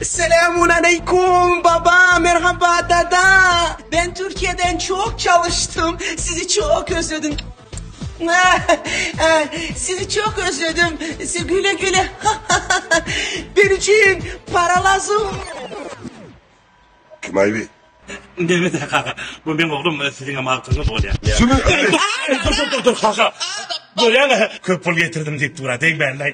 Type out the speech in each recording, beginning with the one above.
Selamun aleykum baba merhaba dada ben Türkiye'den çok çalıştım sizi çok özledim sizi çok özledim sizi güle güle ben için para lazım kim aybi Demet kaka bu benim oğlum sizin ama altınız oluyor Şimdi dur dur dur kaka Görýäňmi? Köp pul getirdim diýip dura degmällä.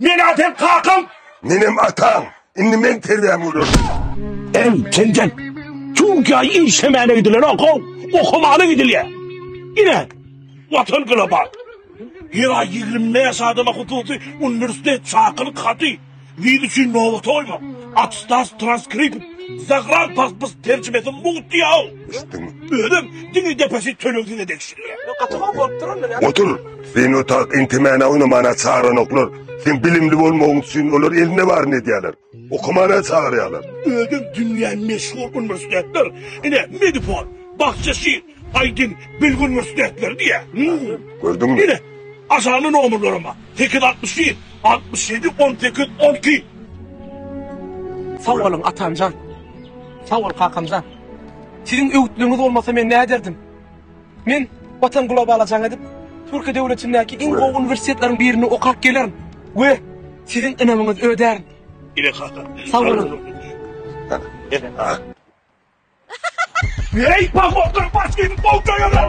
Men-ä seň kakaň. Menem ataň. Indi men terbiýäňi görersiň. Eý, tentek! Türkiýä işlemäne gidilenok, how, okamana gidilýär. Ine, Watan global. Ýyla ýigrimi bäş adama hususy uniwersitet çakylyk haty, wiz üçin nobata goýmak, atestas, transkript, zagrantpasport terjimesi mugt diýýär, how. Düşdüňmi? Özüm diňe depesi tölegine degişilýär. Gaty gowy bolupdyr onda. Otur. Sen otak intimäne oýnamana çaranoklar. Sen bilimli bolmagyň üçin olar elinde baryny edýärler. Okumana çagyrýarlar. Özüm dünýä meşhur uniwersitetler. Ine, Medipol, Bahçeşir, Aydin, Bilgi uniwersitetleri diýýär. Gördüňmi? Ine, aşagyna nomerlerim bar. 861, 67, 18, 12. Sag boluň, atamjan. Sag bol, kakamjan. Siziň öwütligiňiz bolmasa men näderdim? Men Watan globala jaň edip, Türkiýe döwletindäki iň gowy uniwersitetleriň birinde okap gelerin we siziň ynamyňyzy ödärin. Sag boluň! Eý, pahotlar baş geýip, bowtaýalar!